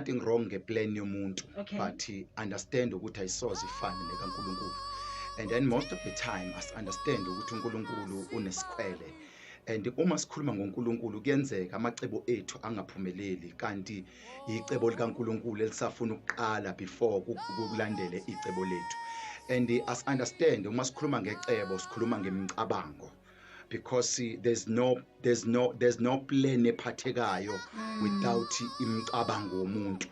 nothing wrong ngeplan yomuntu okay. but understand ukuthi ayisoze ifane nekaNkuluNkulu and then most of the time as understand ukuthi uNkuluNkulu unesikhwele and uma sikhuluma ngoNkulunkulu kuyenzeka amacebo ethu angaphumeleli kanti icebo likaNkulunkulu elisafuna ukuqala before kulandele icebo lethu and as understand uma sikhuluma ngecebo sikhuluma ngemicabango because there's no there's no there's no plan ephathekayo mm. without imicabango womuntu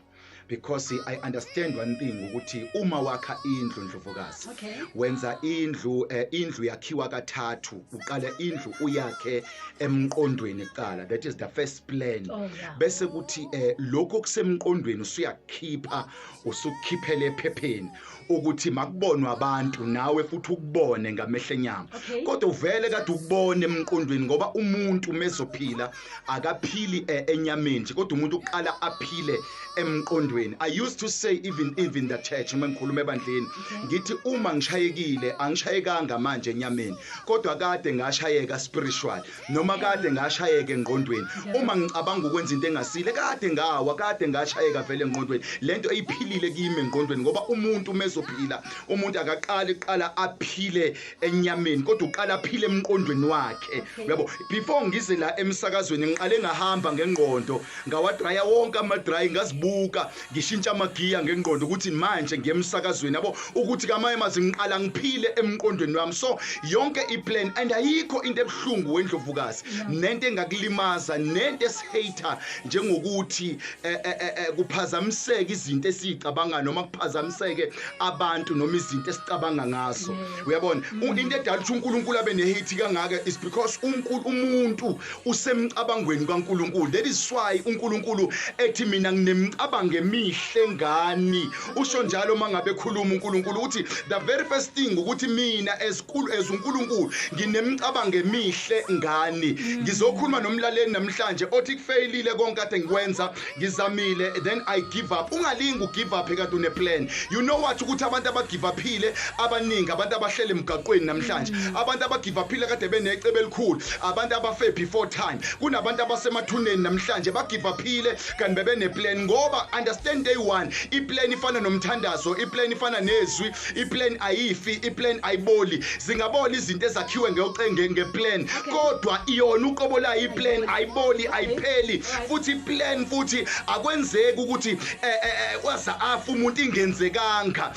because i understand one thing ukuthi uma wakha indlu ndlovukazi okay. wenza indlu uh, indlu yakhiwa kathathu uqala indlu uyakhe emqondweni kuqala that is the first plan oh, yeah. bese kuthi uh, lokho kusemqondweni usuyakhipha usukhiphele ephepheni ukuthi makubonwa abantu nawe futhi ukubone ngamehla enyama okay. kodwa uvele kade ukubone emqondweni ngoba umuntu mezophila akaphili eh, enyameni nje kodwa umuntu uqala aphile emqondweni i used to say even even the church uma ngikhuluma ebandleni ngithi uma ngishayekile angishayekanga manje enyameni kodwa kade ngashayeka spiritual Noma kade ngashayeka engqondweni uma ngicabanga ukwenza into engasile kade ngawa kade ngashayeka vele engqondweni lento eyiphilile kimi engqondweni ngoba umuntu mezophila umuntu akaqali qala aphile enyameni kodwa uqala aphile emqondweni wakhe uyabo before ngize la emsakazweni ngiqale ngahamba ngengqondo ngawadraya wonke amadry ngazibuka Ngishintsha amagiya ngengqondo ukuthi manje ngiye emsakazweni yabo ukuthi kamanye mazi ngiqala ngiphile emqondweni wami so yonke iplan and ayikho into ebuhlungu wendlovukazi nento engakulimaza nento esihata njengokuthi eh, eh, eh, kuphazamiseke izinto esizicabanga noma kuphazamiseke abantu noma izinto esicabanga ngazo uyabona into edala ukuthi uNkulunkulu abe nehate kangaka is because umuntu usemcabangweni kaNkulunkulu that is why uNkulunkulu ethi mina nginemicabango emihle ngani usho njalo uma ngabe khuluma uNkulunkulu uthi the very first thing ukuthi mina as as uNkulunkulu nginemicabango emihle ngani ngizokhuluma nomlaleli namhlanje othi kufailile konke kade ngikwenza ngizamile then i give up ungalingi ugive up ekade une plan you know what ukuthi abantu abagive uphile abaningi abantu abahlele emgaqweni namhlanje mm. abantu abagive uphile kade benecebe elikhulu abantu abafe before time kunabantu abasemathuneni namhlanje bagive uphile kanti bebeneplan ngoba understand day one iplan ifana nomthandazo iplan ifana nezwi iplan ayifi iplan ayiboli zingabola izinto ezakhiwe ngeyocenge ngeplan kodwa iyona uqobo layo iplan ayiboli ayipheli futhi iplan futhi akwenzeki ukuthi eh, eh, eh, waza afa umuntu ingenzekanga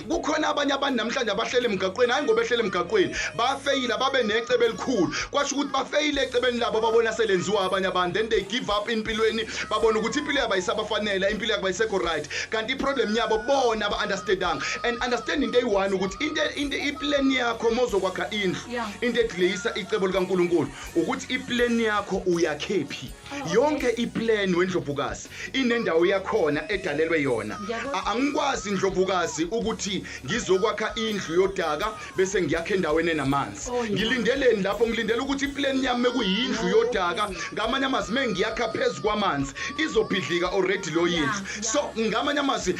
kukhona abanye abantu namhlanje abahlele emgaqweni hayi ngoba ehlele emgaqweni bafeyila babe necebe elikhulu kwasho ukuthi bafeyile ecebeni labo babona selenziwa abanye abantu then they give up empilweni babona ukuthi impilo yabo ayisabafanela impilo yabo ayisekho right Kanti iproblem yabo bona aba understandanga and understand into eyi-one ukuthi into into iplan yakho mozokwakha indlu Yeah. into edileyisa icebo likaNkuluNkulu ukuthi iplan yakho uyakhephi yonke iplan wendlovukazi inendawo yakhona edalelwe yona Ngiyakuzwa. A- angikwazi ndlovukazi ukuthi ngizokwakha indlu yodaka bese ngiyakha endaweni enamanzi oh, ngilindeleni lapho ngilindela ukuthi ipleni yami mekuyindlu oh. yodaka ngamanye amazwi mengiyakha phezu kwamanzi izobhidlika already lo yindlu so ngamanye amazwi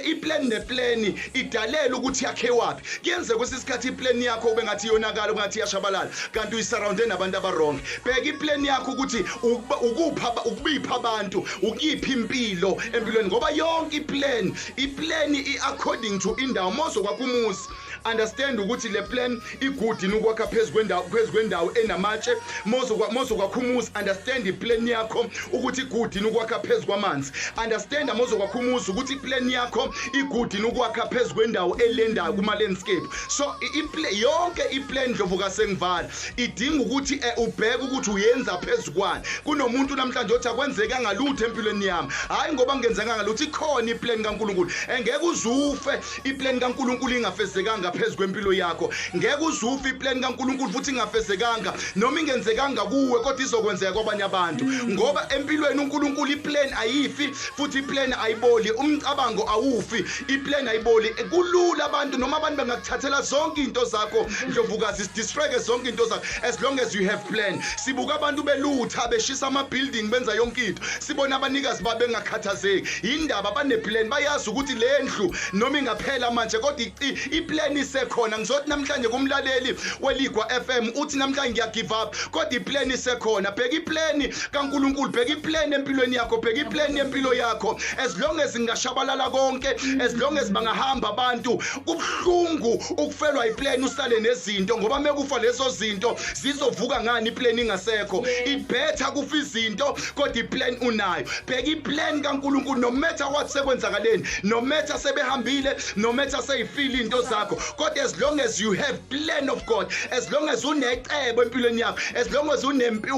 ipleni nepleni idalela ukuthi yakhe waphi kuyenzeka kwesinye isikhathi ipleni yakho ube ngathi iyonakala ungathi iyashabalala kanti uyisurrounde nabantu abaronge bheka ipleni yakho ukuthi ukubipha abantu ukuyiphi impilo empilweni ngoba yonke ipleni ipleni i-according to indawo mozokwakho umuzi understand ukuthi le plan igudi ukwakha phezu kwendawo phezu kwendawo enamatshe mozo kwakhumuza understand iplan yakho ukuthi igudi ukwakha phezu kwamanzi understand mozo kwakhumuza ukuthi iplan yakho igudi ukwakha phezu kwendawo elendayo kuma landscape so iplay yonke iplan ndlovu kasengivala idinga ukuthi eh, ubheke ukuthi uyenza phezu kwani kunomuntu namhlanje othi akwenzeke angalutho empilweni yami hayi ngoba ngenzeka ngalutho ikhona iplan kaNkuluNkulu engeke uzufe Iplan kaNkulunkulu ingafezekanga phezu kwempilo yakho. Ngeke uzufe iplan kaNkulunkulu futhi ingafezekanga noma ingenzekanga kuwe kodwa izokwenzeka kwabanye abantu. Mm. Ngoba empilweni uNkulunkulu iplan ayifi futhi iplan ayiboli, umcabango awufi, iplan ayiboli. Kulula abantu noma abantu bangakuthathela zonke into zakho mm. ndlovukazi sidistreke zonke into zakho as long as you have plan. Sibuka abantu belutha beshisa ama building benza yonke into. Sibone abanikazi babo bengakhathazeki. Yindaba baneplan bayazi ukuthi le ndlu noma ingaphela manje kodwa ici iplan isekhona. Ngizothi namhlanje kumlaleli weLigwa FM uthi namhlanje ngiya give up kodwa iplan isekhona. Bheka iplan kaNkuluNkulu, bheka iplan empilweni yakho, bheka iplan yempilo yakho. As long as ngingashabalala konke, as long as bangahamba abantu, kubuhlungu ukufelwa iplan usale nezinto ngoba mekufa lezo zinto zizovuka ngani iplan ingasekho. It better kufa izinto kodwa iplan unayo bheka iplan kaNkuluNkulu no matter what sekwenzakaleni no matter sebehambile no matter seyifile into zakho kodwa as long as you have plan of God as long as unecebo empilweni yakho as long as unempi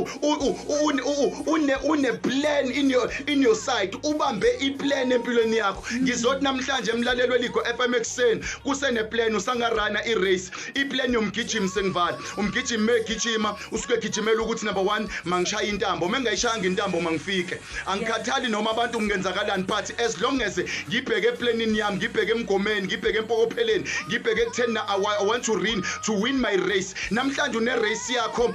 une une plan in your in your side ubambe iplan empilweni yakho ngizothi namhlanje emlalelo elikho FM ekseni kusene plan usangarana i race iplan yomgijimi sengivala umgijimi megijima usuke egijimela ukuthi number one mangishaya intambo uma engayishayanga intambo mangifike angikhathali noma abantu kungenzakalani but as long as ngibheke eplanini yami ngibheke emgomeni ngibheke empokopheleni ngibheke ekutheni na i want to win to win my race namhlanje unerace yakho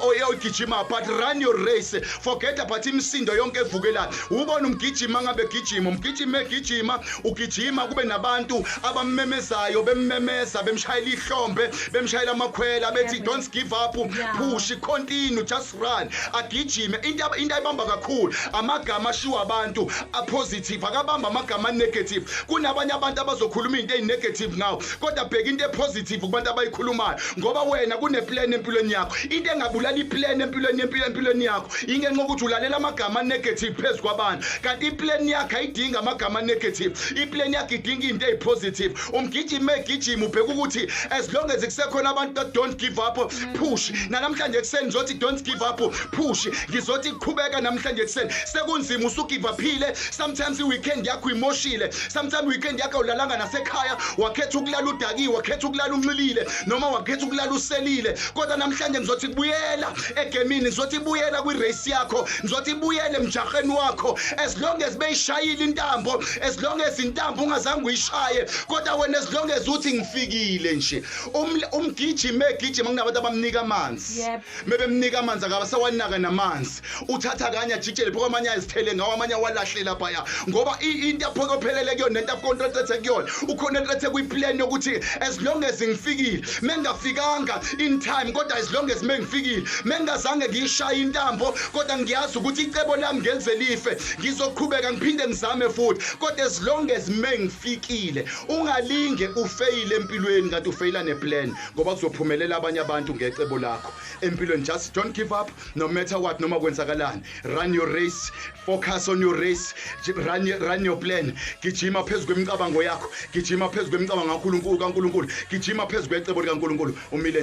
oyigijima but run your race forget about imisindo yonke evukelayo ubona umgijima ngabe gijima umgijima egijima ugijima kube nabantu abammemezayo bemmemeza bemshayela ihlombe bemshayela amakhwela bethi don't give up push continue just run agijime into into ayibamba kakhulu amagama ashiwa abantu a positive akabamba amagama negative kunabanye abantu abazokhuluma into ezinegative ngawo kodwa bheka into epositive kubantu abayikhulumayo ngoba wena kuneplan empilweni yakho into engabulala iplan empilweni empilweni yakho ingenxa ukuthi ulalela amagama negative phezu kwabantu kanti iplan yakho ayidingi amagama negative iplan yakho idinga into eyipositive umgijimi egijima ubheka ukuthi as long as kusekhona abantu don't give up push nanamhlanje ekuseni ngizothi don't give up push ngizothi qhubeka namhlanje ekuseni sekunzima usugive aphile sometimes i-weekend yakho imoshile sometimes weekend yakho awulalanga nasekhaya wakhetha ukulala udakiwe wakhetha ukulala unxilile noma wakhetha ukulala uselile kodwa namhlanje ngizothi buyela egemini ngizothi buyela kwirace yakho ngizothi buyele emjaheni wakho as long as beyishayile intambo as long as intambo ungazange uyishaye kodwa wena as long as uthi ngifikile nje um, umgijime egijima kunabantu abamnika amanzi mebemnika amanzi akasewanaka namanzi uthatha kanye ajikijele phoko amanye ayizithele ngawo amanye awalahlela phaya ngoba into aphoko ophelele kuyona nento aphonto ethethe kuyona ukhona ethethe kwiplani yokuthi as long as ngifikile mengafikanga in time kodwa as long as mengifikile mengazange ngiyishaye intambo kodwa ngiyazi ukuthi icebo lami ngenzelife ngizoqhubeka ngiphinde ngizame futhi kodwa as long as mengifikile ungalinge ufeyile empilweni kanti ufeyila neplan ngoba kuzophumelela abanye abantu ngecebo lakho empilweni just don't give up no matter what noma kwenzakalani run your race focus on your race run, run your plan gijima phezu kwemicabango yakho gijima phezu kwemicabango kaNkulunkulu kaNkulunkulu gijima phezu kwecebo likaNkulunkulu umile